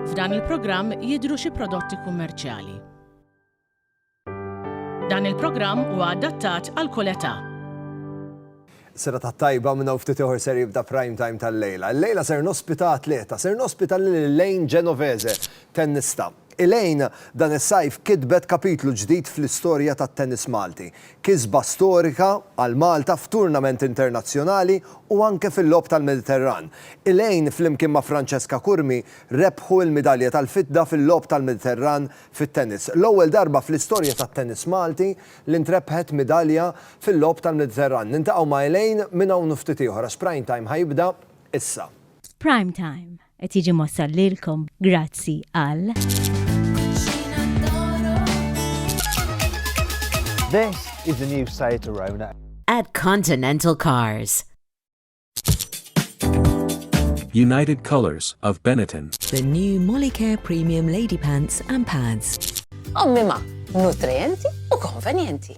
F'dan il-programm jidhru xi prodotti kummerċjali. Dan il-programm huwa adattat għal kull età. Serata t-tajba minn hawn ftit ieħor ser jibda prime time tal-lejla. Illejla ser nospita atleta, ser nospita lil Elaine Genovese, tennista. Elaine dan is-sajf kitbet kapitlu ġdid fl-istorja tat-tennis Malti. Kisba storika għal Malta f'turnament internazzjonali u anke fil-Logħob tal-Mediterran. Elaine flimkien ma' Francesca Curmi rebħu l-midalja tal-fidda fil-Logħob tal-Mediterran fit-tennis. L-ewwel darba fl-istorja tat-tennis Malti li ntrebħet midalja fil-Logħob tal-Mediterran. Niltaqgħu ma' Elaine minn hawn u ftit ieħor għax Prime Time ħa jibda issa. Prime Time. Qed jiġi mwassal lilkom grazzi għal. This is the new Seat Arona. At Continental Cars. United Colors of Benetton. The new Molicare Premium Lady Pants and Pads. Ommi ma, nutrienti u konvenjenti.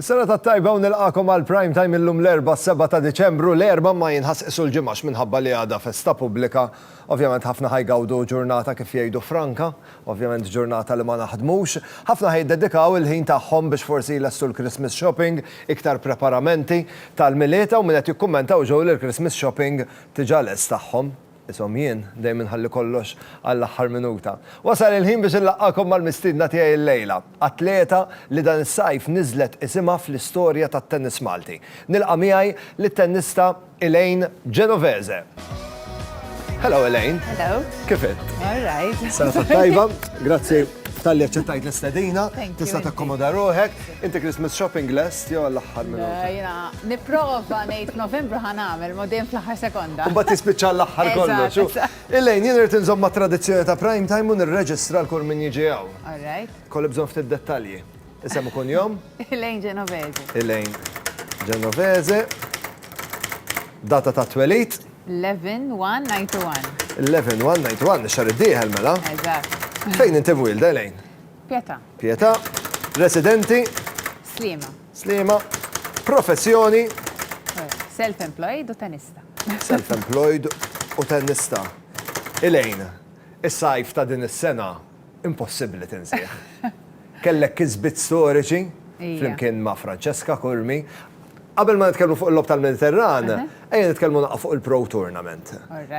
Serata t-tajba u nilqakom għal Prime Time illum l-Erbgħa s-Sebgħa ta' Diċembru. L-Erbgħa ma jinħasq isu l-Ġimgħa x'minħabba li għadha festa pubblika. Ovvjament ħafna ħa jgawdu ġurnata kif jgħidu franka. Ovvjament ġurnata li ma naħdmux. Ħafna ħa jiddedikaw il-ħin tagħhom biex forsi jlestu l-Christmas shopping, iktar preparamenti tal-Milied, hawn min qed jikkummenta u ġew li l-Christmas shopping tiġa lest tagħhom. Ishom jien dejjem inħalli kollox għall-aħħar minuta. Wasal il-ħin biex inlaqqagħkom mal-mistiedna tiegħi illejla, atleta li dan is-sajf niżlet isimha fl-istorja tat-tennis Malti. Nilqa' miegħi lit-tennista Elaine Genovese. Hello Elaine. Hello. Kif int? All right. Safa tajba. Grazzi talli aċċettajt l-istedina. Thank you. Tista' takkomoda ruħek. Inti Christmas shopping lest jew għall-aħħar minuta? Le, jiena nipprova ngħid Novembru ħa nagħmel, ma dejjem fl-aħħar sekonda. Imbagħad tispiċċa l-aħħar kollox. Elaine, jien irid inżomm mat-tradizzjoni ta' prime time u nirreġistra l-kull min jiġi hawn. All right. Kolli bżonn ftit dettalji. Isem u kunjom? Elaine Genovese. Elaine Genovese. Data ta' twelid? 11-1-91. 11-1-91, xar id-dieħel mela? Eżatt. Fejn inti wilda, Elaine? Pieta. Pietà, residenti. Sliema. Sliema, professjoni. Self-employed u tennista. Self-employed u tennista. Elaine, is-sajf ta' din is-sena impossibbli tinsih. Kellek kisbiet storiċi flimkien ma' Francesca Curmi. Qabel ma nitkellmu fuq il-Logħob tal-Mediterran, ejja nitkellmu naqgħu fuq il-Pro Tournament.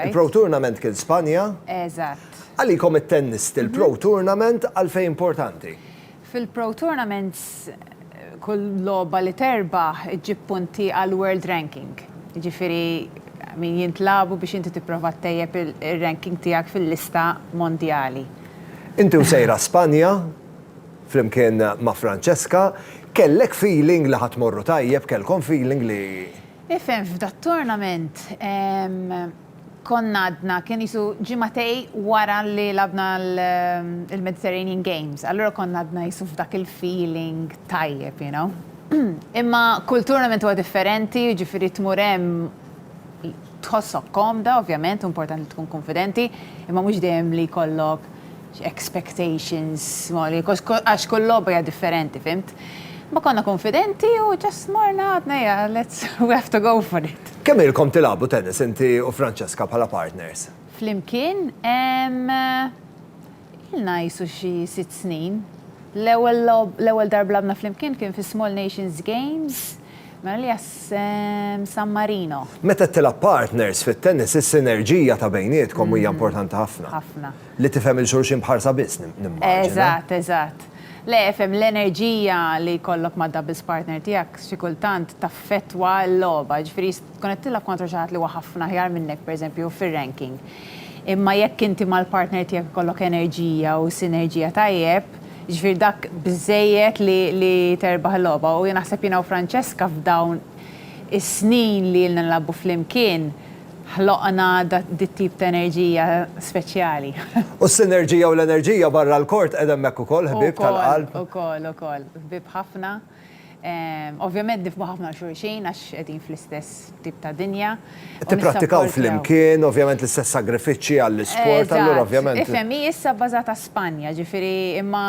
Il-Pro Tournament kien Spanja. Eżatt. Għalikom it-tennisti, il-Pro Tournament għalfejn importanti? Fil-Pro Tournaments, kull logħba li terbaħ iġġib punti għall-World Ranking. Jiġifieri min jintlagħbu biex inti tipprova ttejjeb ir-ranking tiegħek fil-lista mondjali. Inti u sejra Spanja? Flimkien ma' Francesca, kellek feeling li ħa tmorru tajjeb, kellkom feeling li. Ifhem f'dat-tournament konna għadna, kien qisu ġimgħatej wara li lagħabna l-Mediterranean Games, allura konna għadna qisu f'dak il-feeling tajjeb, you know. Imma kull tournament huwa differenti, jiġifieri tmur hemm tħossok komda ovvjament, hu importanti li tkun kunfidenti, imma mhux dejjem li jkollok expectations, mori, għax kull logħba hija differenti, fimt? Ma konna konfidenti u ġas morna għadna ja, let's, we have to go for it. Kemm ilkom tilagħbu tennis inti u Francesca bħala partners? Flimkien? Ilna qisu xi sitt snin. L-ewwel darb lagħbna flimkien kien fis-Small Nations Games Mela li jassem San Marino. Meta tilgħab partners fit-tennis is-sinerġija ta' bejnietkom hija importanti ħafna. Ħafna. Li tifhem 'il xulxin b'ħarsa biss nimmaġina. Eżatt, eżatt. Le, ifhem, l-enerġija li jkollok mad-doubles partner tiegħek xi kultant taffettwa l-logħba, jiġifieri tkun qed tilgħab kontra xi ħadd li huwa ħafna aħjar minnek pereżempju fir-ranking. Imma jekk inti mal-partner tiegħek ikollok enerġija u sinerġija tajjeb, Jiġifieri dak biżżejjed li li terbaħ il-logħba u jien naħseb jiena u Francesca f'dawn is-snin li ilna nilagħbu flimkien ħloqna dit-tip ta' enerġija speċjali. U s-sinerġija u l-enerġija barra l-court qegħda hemmhekk ukoll, ħbieb tal-qalb. Ukoll, ukoll, ukoll. Ħbieb ħafna. Ovvjament nifhmu ħafna lil xulxin għax qegħdin fl-istess tip ta' dinja. Tipprattikaw flimkien, ovvjament l-istess sagrifiċċji għall-isport, allura ovvjament. Eżatt. Ifhem, hi issa bbażata Spanja, ġifieri imma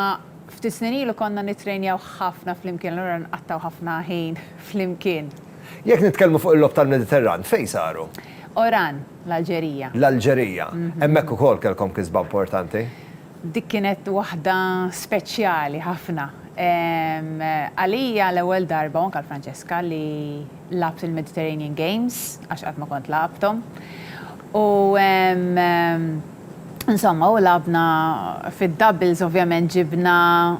ftit snin ilu konna nittrejnjaw ħafna flimkien, allura nqattgħu ħafna ħin flimkien. Jekk nitkellmu fuq il-Logħob tal-Mediterran, fejn saru? Oran, l-Alġerija. L-Alġerija. Hemmhekk ukoll kellkom kisba importanti? Dik kienet waħda speċjali ħafna. Għalija l-ewwel darba u anke għal Francesca li lgħabt il-Mediterranean Games għax qatt ma kont lagħabthom. U insomma u lagħabna fid-doubles ovvjament ġibna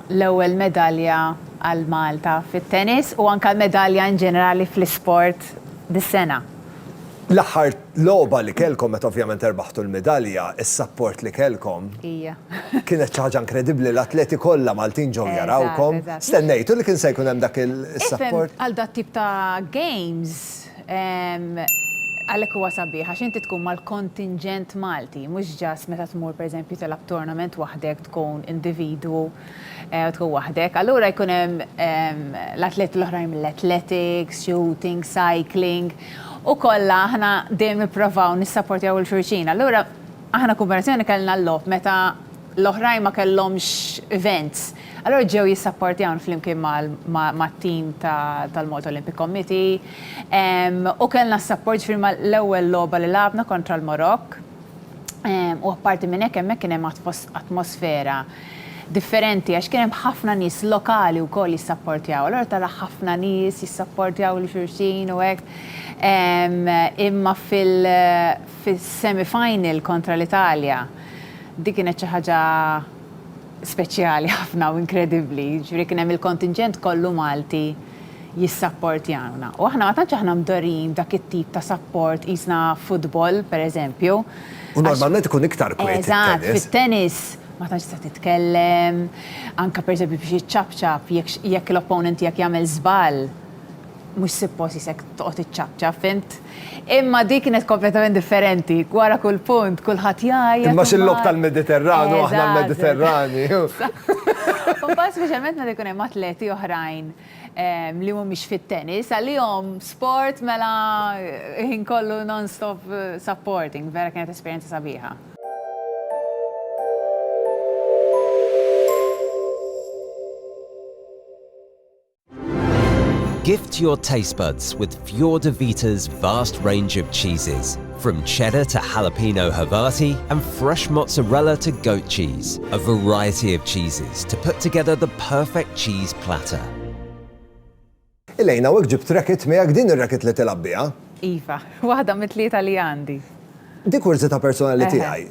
l-ewwel medalja għal Malta fit-tennis u anke l-medalja in ġenerali fl-isport dis-sena. L-aħħar Logħba li kellkom meta ovvjament erbaħtu l-midalja, is-sapport li kellkom. Ija. Kienet xi ħaġa inkredibbli, l-atleti kollha Maltin ġew jarawkom. Eżatt, eżatt. Stennejtu li kien se jkun hemm dak is-sapport? Ifhem, għal dat-tip ta' games, għalhekk huwa sabiħ għax inti tkun mal-kontinġent Malti, mhux ġast meta tmur pereżempju tilgħab tournament waħdek tkun individwu. u tkun waħdek. Allura jkun hemm l-atleti l-oħrajn mill-athletics, shooting, cycling, u kollha aħna dejjem nipprovaw nissapportjaw lil xulxin. Allura aħna Kooperazzjoni kellna l-logħob meta l-oħrajn ma kellhomx events. Allura ġew jissapportjawna flimkien mat-tim tal-Malta Olympic Committee, u kellna s-sapport ġifieri mal-ewwel logħba li lagħabna kontra l-Marokk, u apparti minn hekk hemmhekk kien hemm atmosfera. differenti għax kien hemm ħafna nies lokali wkoll jissapportjaw. Allura tara ħafna nies jissapportjaw lil xulxin u hekk. Imma fil-semi final kontra l-Italja dik kienet xi ħaġa speċjali ħafna u inkredibbli. Jiġifieri kien hemm il-kontinġent kollu Malti jissapportjawna. U aħna ma tantx aħna mdorrijin b'dak it-tip ta' sapport qisna futbol, pereżempju. U normalment ikun iktar kwiet it-tennis. Eżatt, fit-tennis ma tantx tista' titkellem, anke pereżempju biex iċċapċap jekk jekk l-opponent tiegħek jagħmel żball mhux sippost qisek toqgħod iċċapċap, fimt? Imma dik kienet kompletament differenti, wara kull punt kulħadd jgħajjat. Imma x'il-logħob tal-Mediterran u aħna l-Mediterrani. Mbagħad speċjalment meta jkun hemm atleti oħrajn. li mhumiex fit-tennis, għalihom sport mela ħin kollu non-stop supporting, vera kienet esperjenza sabiħa. Gift your taste buds with Fior & Vita's vast range of cheeses. From cheddar to jalapeno Havarti and fresh mozzarella to goat cheese, a variety of cheeses to put together the perfect cheese platter. Elaine, hawnhekk ġibt racket miegħek, din ir-racket li tilgħab biha? Iva, waħda mit-tlieta li għandi. Di kurżità personali tiegħi.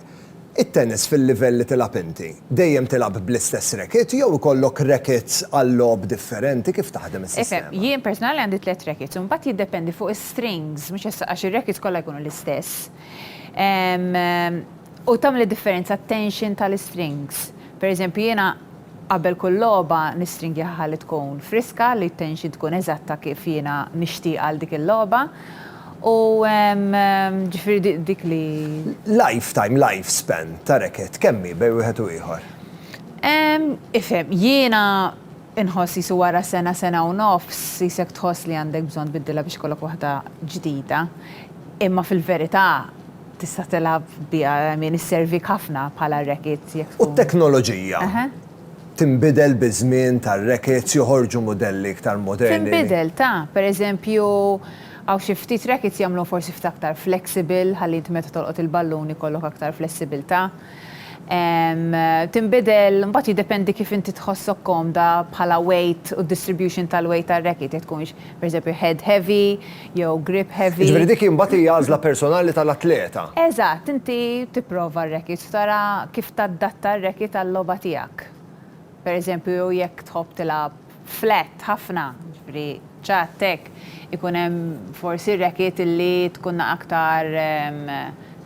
It-tennis fil-livell li tilgħab inti, dejjem tilgħab bl-istess racket jew ikollok rackets għal logħob differenti, kif taħdem is-sistema? Ifhem, jien personali għandi tliet rackets u mbagħad jiddependi fuq is-strings, mhux issa għax ir-rackets kollha jkunu l-istess. U tagħmel id-differenza t-tension tal-istrings. Per eżempju jiena qabel kull logħba nistringhiha ħalli tkun friska, li t-tension tkun eżatta kif jiena nixtieqha għal dik il-logħba. U ġifieri dik li. Life time, life span, ta' rekett kemm hi bejn wieħed u ieħor? Ifhem, jiena nħoss qisu wara sena, sena u nofs, qisek tħoss li għandek bżonn tbiddilha biex ikollok waħda ġdida. Imma fil-verità tista' tilgħab biha, I mean isservik ħafna bħala rekett jekk tkun. U t-teknoloġija? Tinbidel biż-żmien tar-reketts, joħorġu mudelli iktar moderni? Tinbidel, ta. Pereżempju, Hawn xi ftit rackets jagħmluha forsi ftit aktar flexible ħalli inti meta tolqot il-ballun ikollok aktar flessibilità. Tinbidel, mbagħad jiddependi kif inti tħossok komda bħala weight u d-distribution tal-weight tar-racket, jekk tkunx pereżempju head heavy jew grip heavy. Jiġifieri dik imbagħad hi għażla personali tal-atleta. Eżatt, inti tipprova r-rackets u tara kif tadatta r-racket għal-logħba tiegħek. Pereżempju jekk tħobb tilgħab. flat ħafna, jiġifieri ċatt hekk, ikun hemm forsi r-racket li tkun aktar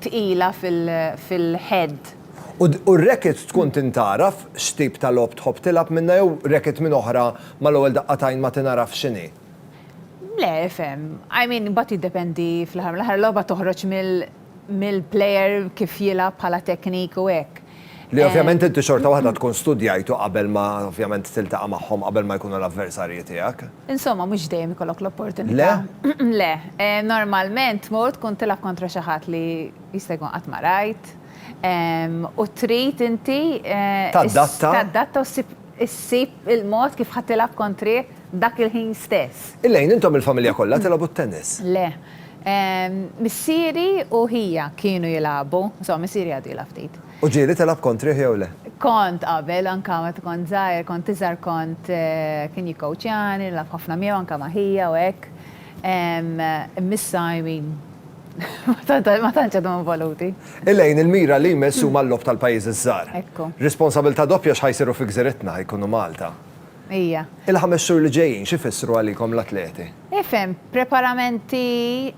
tqila fil-head. U r-racket tkun tintgħaraf x'tip ta' logħob tħobb tilgħab minnha jew racket minn oħra mal-ewwel daqqa t'għajn ma tingħarafx x'inhi? Le, ifhem. I mean imbagħad jiddependi fl-aħħar mill-aħħar logħba toħroġ mill-, mill-player kif jilgħab bħala teknik u hekk. Li ovvjament inti xorta waħda tkun studjajtu qabel ma ovvjament tiltaqa' magħhom qabel ma jkunu l-avversarji tiegħek. Insomma mhux dejjem ikollok l-opportunità. Le? Le. Normalment tmur tkun tilgħab kontra xi ħadd li jista' jkun qatt ma rajt u trid inti. Tadatta. Tadatta u ssib. Issib il-mod kif ħa tilgħab kontri dak il-ħin stess. Elaine, intom il-familja kollha tilgħobu t-tennis? Le. Missieri u ħija kienu jilgħabu. Insomma, missieri għadu jilgħab ftit. U ġieli tilgħab kontrih jew le? Kont qabel, anke meta kont żgħir, kont iżgħar kont, kien jikkowċjani, nilgħab ħafna miegħu anke ma' ħija u hekk. Immissha, I mean, Ma tantx għadhom involuti. Il-għin il-mira li jmiss huma l-logħob tal-pajjiżi ż-żgħar. Ekku. Responsabilità doppja x'ħa jsiru fi gżiritna, jkunu Malta. Hija. Il-ħames xhur li ġejjin x'ifissru għalikom l-atleti? Ifhem, preparamenti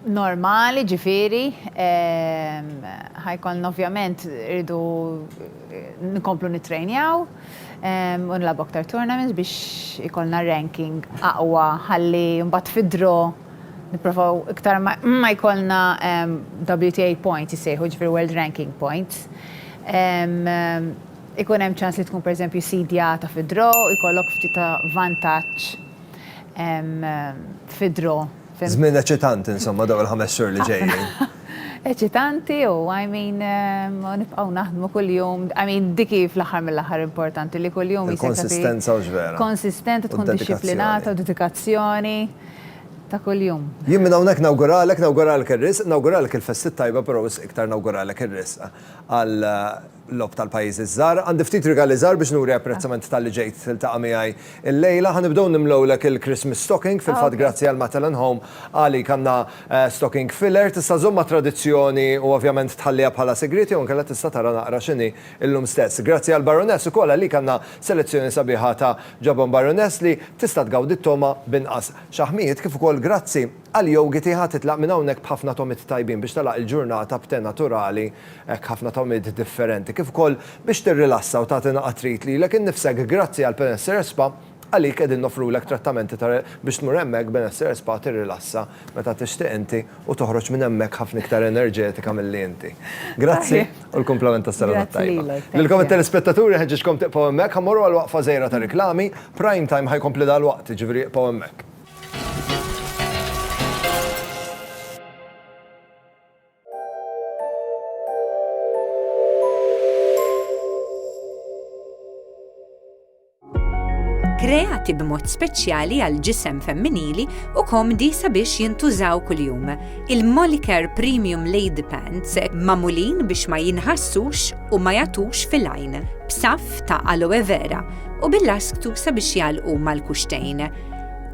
normali, ġifieri ħa jkollna ovvjament irridu nkomplu nittrejnjaw u nilagħbu aktar tournaments biex ikollna ranking aqwa ħalli mbagħad fid-draw Nipprovaw iktar ma jkollna WTA points jissejħu, ġifieri World Ranking Points. Ikun hemm ċans li tkun pereżempju sseedjata fi draw u jkollok ftit ta' vantaġġ fi draw. Żmien eċitanti insomma dawn il-ħames xhur li ġejjin. Eċitanti u I mean nibqgħu naħdmu kuljum, I mean dik hi fl-aħħar mill-aħħar importanti li kuljum. Il-konsistenza u x'vera. Konsistent u tkun dixxiplinata u dedikazzjoni. ta' kuljum. Jien minn hawnhekk nawguralek, nawguralek ir-riżq, nawguralek il-festi t-tajba però wisq iktar nawguralek ir-riżq għal logħob tal-pajjiżi ż-żgħar. Għandi ftit rigali żgħar biex nuri apprezzament talli ġejt tiltaqa' miegħi llejla. Ħa nibdew nimlewlek il-Christmas stocking, fil-fatt grazzi għal Mattel and Home għalik għandna stocking filler. Tista' żżomm mat-tradizzjoni u ovvjament tħalliha bħala sigriet jew inkella tista' tara naqra x'inhi Illum stess. Grazzi għal Baroness ukoll għalik għandna selezzjoni sabiħa ta' ġabon Baroness li tista' tgawdi t-togħma b'inqas xaħmijiet kif ukoll grazzi għal yogi tiegħha titlaq minn hawnhekk b'ħafna togħmiet tajbin biex tagħlaq il-ġurnata b'te naturali hekk ħafna togħmiet differenti kif ukoll biex tirrilassa u tagħti naqat trid lilek innifsek grazzi għal Penessere Spa Għalik qegħdin noffrulek trattamenti ta' biex tmur hemmhekk b'benessere spa tirrilassa meta tixtieq inti u toħroġ minn hemmhekk ħafna iktar enerġetika milli inti. Grazzi u l-kumplament tas-Serata t-Tajba. Lilkom it-telespettaturi nħeġġiġkom tibqgħu hemmhekk ħa mmorru għal waqfa żgħira ta' riklami, Prime Time ħa jkompli dalwaqt, jiġifieri ibqgħu hemmhekk. kreati b'mod speċjali għal ġisem femminili u komdi sabiex jintużaw kuljum. Il-Moliker Premium Lady Pants mamulin biex ma jinħassux u ma jatux fil-għajn, b'saf ta' aloe vera u bil-lasktu sabiex jalqu mal-kuxtejn.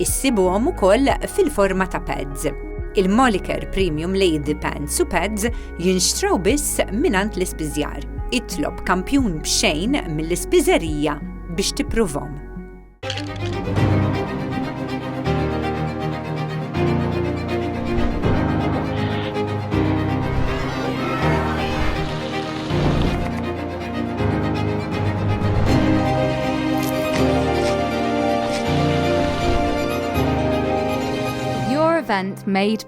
Issibuhom ukoll fil-forma ta' pads. Il-Moliker Premium Lady Pants u Pads Jinxtraw biss mingħand l-ispiżjar. Itlob kampjun b'xejn mill-ispiżerija biex tippruvhom. event made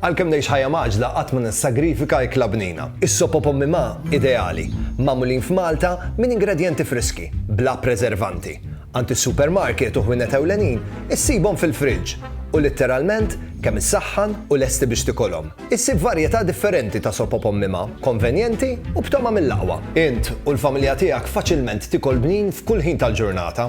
Għalkemm ngħix ħajja mgħaġġla qatt ma nissagrifika ikla bnina. Is-sop o pommi ma, ideali, magħmulin f'Malta minn ingredjenti friski, bla preservanti. Għand is-supermarket u ħwienet ewlenin issibhom fil-friġġ u litteralment kemm issaħħan u lesti biex tikolhom. Issib varjetà differenti ta' sop o pommi ma, konvenjenti u b'togħma mill-aqwa. Int u l-familja tiegħek faċilment tikol bnin f'kull ħin tal-ġurnata.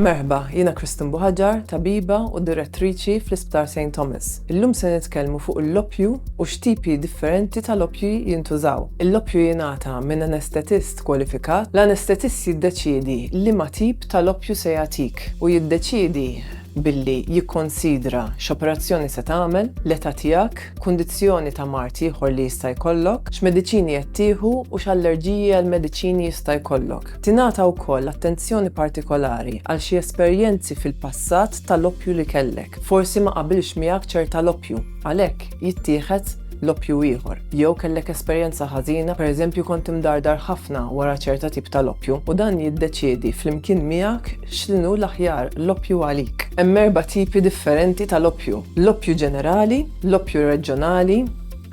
Merħba, jiena Kristin Buħaġar, tabiba u direttriċi fl-Isptar St. Thomas. Illum se nitkellmu fuq l-loppju u x'tipi differenti tal-loppju jintużaw. Il-loppju jingħata minn anestetist kwalifikat. L-anestetist jiddeċiedi li ma tip tal-loppju se jagħtik u jiddeċiedi billi jikkonsidra x'operazzjoni se tagħmel, l-età tiegħek, kundizzjoni ta' mard ieħor li jista' jkollok, x'mediċini qed tieħu u x'allerġiji għal mediċini jista' jkollok. Tingħata wkoll attenzjoni partikolari għal xi esperjenzi fil-passat tal-oppju li kellek. Forsi ma qabilx miegħek ċerta l-oppju, għalhekk jittieħed l-oppju ieħor. Jew kellek esperjenza ħażina, pereżempju kont imdardar ħafna wara ċerta tip tal-oppju, u dan jiddeċiedi flimkien miegħek X'inhu l-aħjar l-oppju għalik? Hemm erba' tipi differenti tal-oppju, l-oppju ġenerali, l-oppju reġjonali,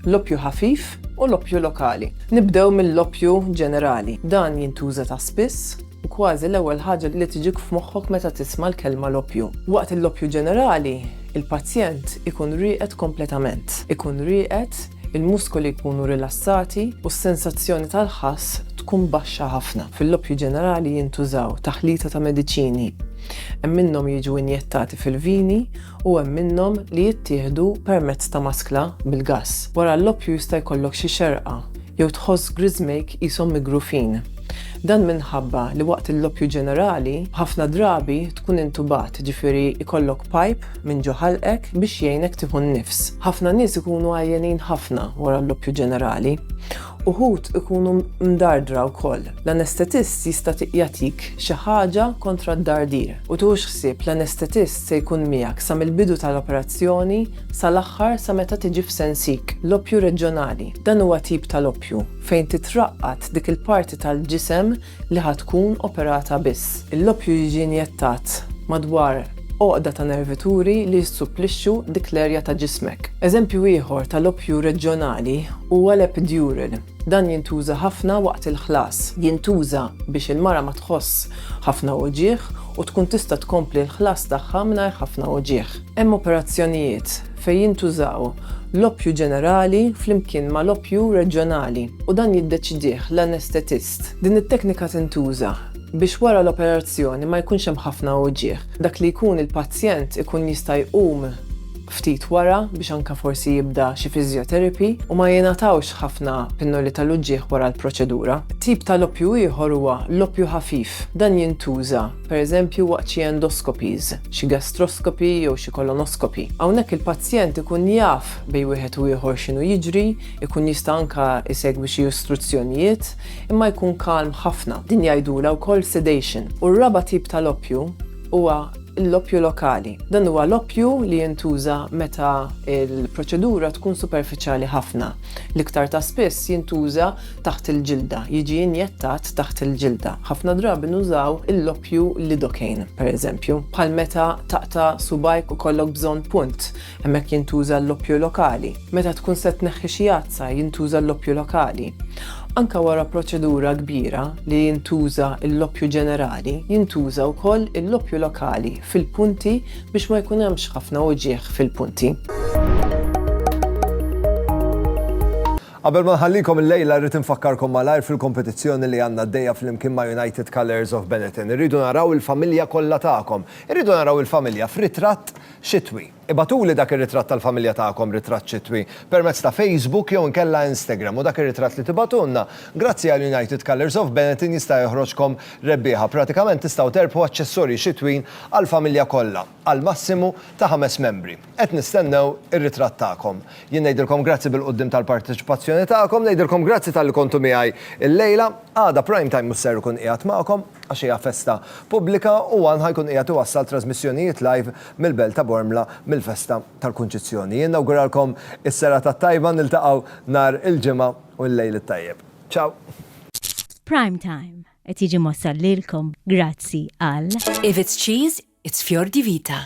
l-oppju ħafif u l-oppju lokali. Nibdew mill-oppju ġenerali. Dan jintuża ta' spiss u kważi l-ewwel ħaġa li tiġik f'moħħok meta tisma' l-kelma l-oppju. Waqt l-oppju ġenerali, il-pazjent ikun rieqed kompletament. Ikun rieqed il-muskoli jkunu rilassati u s-sensazzjoni tal-ħass tkun baxxa ħafna. Fil-loppju ġenerali jintużaw taħlita ta' mediċini. Hemm minnhom jiġu injettati fil-vini u hemm minnhom li jittieħdu permezz ta' maskla bil-gass. Wara l-loppju jista' jkollok xi xerqa jew tħoss griżmejk qishom migrufin. Dan minħabba li waqt il-loppju ġenerali ħafna drabi tkun intubat, ġifieri jkollok pajp Min ġo ħalqek biex jgħinek tieħu n-nifs? Ħafna nies ikunu għajjenin ħafna wara l-loppju ġenerali. Uħud ikunu mdardra wkoll. L-anestetist jista' jagħtik xi ħaġa kontra d-dardir. U tieħux ħsieb l-anestetist se jkun miegħek sa mill-bidu tal-operazzjoni sal-aħħar sa meta tiġi f'sensik. Loppju reġjonali. Dan huwa tip tal-oppju fejn titraqqad dik il-parti tal-ġisem li ħa tkun operata biss. L-oppju jiġi injettat madwar għoqda ta' nervituri li jissupplixxu dik l-erja ta' ġismek. Eżempju ieħor tal-oppju reġjonali huwa l-epidural. Dan jintuża ħafna waqt il-ħlas. Jintuża biex il-mara ma tħoss ħafna uġigħ u tkun tista' tkompli l-ħlas tagħha mingħajr ħafna uġigħ. Hemm operazzjonijiet fejn jintużaw l-oppju ġenerali flimkien mal-oppju reġjonali u dan jiddeċidih l-anestetist. Din it-teknika tintuża biex wara l-operazzjoni ma jkunx hemm ħafna uwġiegħ. Dak li jkun il-pazjent ikun jista' jqum ftit wara biex anke forsi jibda xi physiotherapy u ma jingħatawx ħafna pinnoli tal-uġiegħ wara l-proċedura. Tip tal-oppju ieħor huwa l-oppju ħafif. Dan jintuża, per eżempju, waqt xi endoscopies, xi gastroscopy jew xi colonoscopy. Hawnhekk il-pazjent ikun jaf bejn wieħed u ieħor x'inhu jiġri, Ikun jista' anke jsegwi xi istruzzjonijiet, imma jkun kalm ħafna. Din jgħidulha wkoll sedation. U r-raba' tip ta' l-oppju huwa l-oppju lokali. Dan huwa l-oppju li jintuża meta l-proċedura tkun superfiċjali ħafna. L-iktar ta' spiss jintuża taħt il-ġilda, jiġi injettat taħt il-ġilda. Ħafna drabi nużaw l-oppju lidocaine, pereżempju, bħal meta taqta' subgħajk u jkollok bżonn punt. Hemmhekk jintuża l-oppju lokali. Meta tkun se tneħħi xi għadsa jintuża l-oppju lokali. Anke wara proċedura kbira li jintuża l-oppju ġenerali, jintuża wkoll l-oppju lokali fil-punti biex ma jkun hemmx ħafna uġigħ fil-punti. Qabel ma nħallikom illejla rrid infakkarkom malajr fil-kompetizzjoni li għandna għaddejja flimkien ma' United Colours of Benetton. Irridu naraw il-familja kollha tagħkom. Irridu naraw il-familja f'ritratt Xitwi. Ibagħtuli dak ir-ritratt tal-familja tagħkom, ritratt xitwi, permezz ta' Facebook jew inkella Instagram u dak ir-ritratt li tibagħtulna, grazzi għal United Colours of Benetton jista' joħroġkom rebbieħa. Pratikament tistgħu terbħu aċċessorji xitwin għall-familja kollha, għal massimu ta' ħames membri. Qed nistennew ir-ritratt tagħkom. Jien ngħidilkom grazzi bil-quddiem tal-parteċipazzjoni tagħkom, ngħidilkom grazzi talli kontu miegħi llejla. Għada Prime Time mhux ser ikun qiegħed magħkom għax hija festa pubblika u One ħa jkun qiegħed iwassal trażmissjonijiet live mill-Belt ta' Bormla mill-festa tal-Kunċizzjoni. Jien nawguralkom is-serata t-tajba, niltaqgħu nhar il-Ġimgħa u llejl it-tajjeb. Ciao! Prime Time qed jiġi mwassal lilkom grazzi għal. If it's cheese, it's Fior di Vita.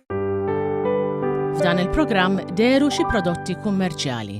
F'dan il-programm deru xi prodotti kummerċjali.